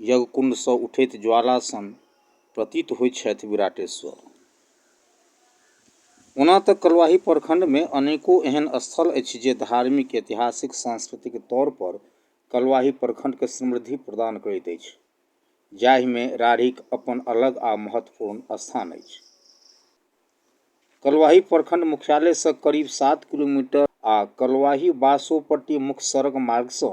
यज्ञकुण्डसँ उठैत ज्वाला सन प्रतीत होइत छथि विराटेश्वर। ओना तँ कलुआही प्रखण्डमे अनेको एहन स्थल अछि जे धार्मिक, ऐतिहासिक, सांस्कृतिक तौर पर कलुआही प्रखण्डकेँ समृद्धि प्रदान करैत अछि, जाहिमे राढ़ीक अपन अलग आ महत्वपूर्ण स्थान अछि। कलुआही प्रखण्ड मुख्यालयसँ करीब सात किलोमीटर आ कलुआही-बासोपट्टी मुख्य सड़क मार्गसँ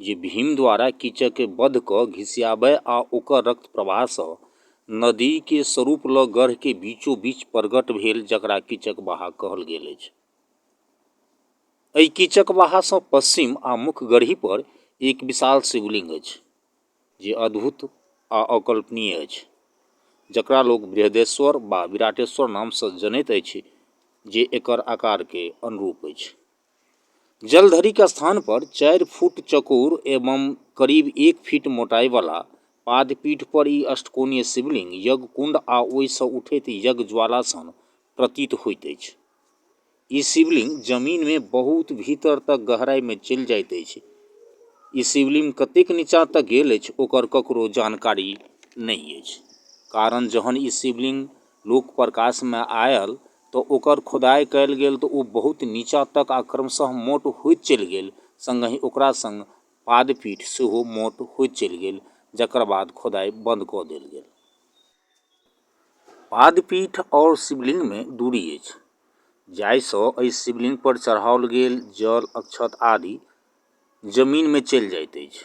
जे भीम द्वारा कीचककेँ बध कऽ घिसियाबए आ ओकर रक्त प्रवाहसँ नदीकेँ सरूप लऽ गढ़केँ बीचोबीच परगट भेल जकरा कीचकबाहा कहल गेल अछि। एहि कीचकबाहासँ पश्चिम आ मुख्य गढ़ीपर एक विशाल शिवलिंग अछि जे अद्भुत आ अकल्पनीय अछि जकरा लोक बृहदेश्वर वा विराटेश्वर नामसँ जनैत अछि जे एकर आकारकेँ अनुरूप अछि। जलधरिक स्थान पर चारि फुट चकोर एवं करीब एक फीट मोटाइ बला पादपीठ पर ई अष्टकोणीय शिवलिंग यज्ञकुंड आ ओहि सँ उठैत यज्ञज्वाला सन प्रतीत होइत अछि। ई शिवलिंग जमीन मे बहुत भीतर तक गहराइ मे चलि जाइत अछि। ई शिवलिंग कतेक नीचाँ तक गेल अछि ओकर ककरो जानकारी नहि अछि। कारण जहन ई शिवलिंग लोक प्रकाशमे आयल तऽ ओकर खोदाइ कयल गेल तऽ ओ बहुत नीचाँ तक आ क्रमशः मोट होइत चलि गेल सङ्गहि ओकरा सङ्ग पाद पीठ सेहो मोट होइत चलि गेल जकर बाद खोदाइ बन्द कऽ देल गेल। पाद पीठ आओर शिवलिंगमे दूरी अछि जाहिसँ एहि शिवलिंग पर चढ़ाओल गेल जल अक्षत आदि जमीनमे चलि जाइत अछि।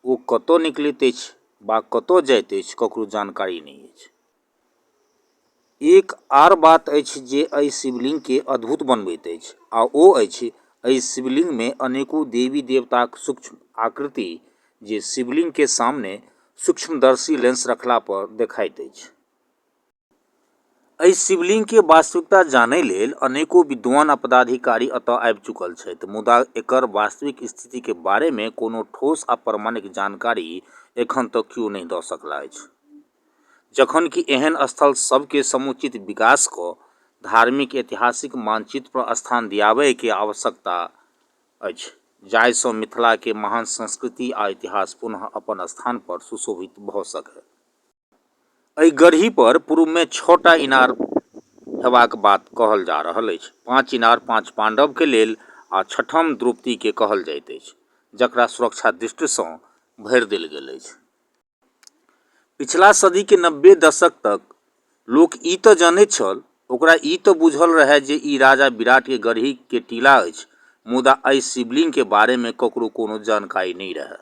ओ कतऽ निकलैत अछि वा कतऽ जाइत अछि ककरो जानकारी नहि अछि। एक आर बात अछि जे एहि शिवलिङ्गके अद्भुत बनबैत अछि आ ओ अछि एहि शिवलिङ्गमे अनेको देवी देवताक सूक्ष्म आकृति जे शिवलिङ्गके सामने सूक्ष्मदर्शी लेंस रखला पर देखाइत अछि एहि शिवलिङ्गके वास्तविकता जानै लेल अनेको विद्वान आ पदाधिकारी एतऽ आबि चुकल छथि मुदा एकर वास्तविक स्थितिके बारेमे कोनो ठोस आ प्रमाणिक जानकारी एखन तक केओ नहि दऽ सकला अछि जखन कि एहन स्थल सभके समुचित विकास कऽ धार्मिक ऐतिहासिक मानचित्र पर स्थान दियाबय के आवश्यकता अछि जाहि सँ मिथिला के महान संस्कृति आ इतिहास पुनः अपन स्थान पर सुशोभित भऽ सकय। एहि गढ़ी पर पूर्व मे छह टा इनार हेबाक बात कहल जा रहल अछि। पाँच इनार पाँच पांडव के लेल आ छठम द्रौपदी के कहल जाइत अछि जकरा सुरक्षा दृष्टि सँ भरि देल गेल अछि। पिछला सदीके नब्बे दशक तक लोक ई तऽ जनैत छल ओकरा ई तऽ बुझल रहए जे ई राजा विराटके गढ़ीके टीला अछि मुदा एहि शिवलिंगके बारेमे ककरो कोनो जानकारी नहि रहए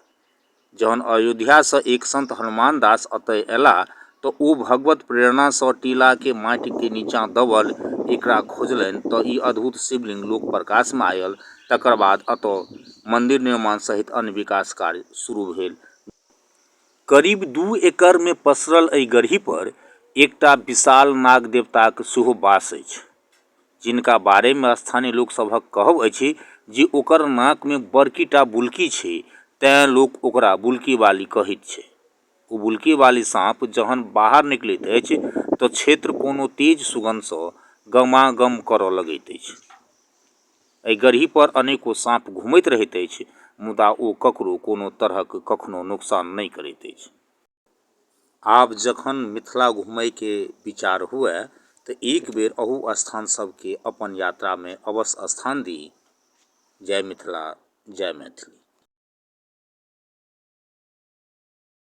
जहन अयोध्यासँ एक संत हनुमान दास एतय अयलाह तऽ ओ भगवत प्रेरणासँ टीलाके माटिके नीचाँ दबल एकरा खोजलनि तऽ ई अद्भुत शिवलिंग लोक प्रकाशमे आयल तकर बाद एतय मन्दिर निर्माण सहित अन्य विकास कार्य शुरू भेल करीब दू एकड़ मे पसरल एहि गड़ही पर एकटा विशाल नाग देवताक सेहो बास अछि, जिनका बारे मे स्थानीय लोक सभक कहब अछि जे ओकर नाक मे बड़की टा बुल्की छै, तें लोक ओकरा बुल्की वाली कहैत छै। ओ बुल्की वाली साँप जहन बाहर निकलैत अछि त क्षेत्र कोनो तेज सुगंध स गमागम करय लगैत अछि। एहि गड़ही पर अनेको साँप घुमैत रहैत अछि मुदा ओ ककरो कोनो तरहक कखनो नोकसान नहि करैत अछि। आब जखन मिथिला घुमय के विचार हुअए त एक बेर अहु स्थान सब के अपन यात्रा मे अवश्य स्थान दी। जय मिथिला जय मैथिली।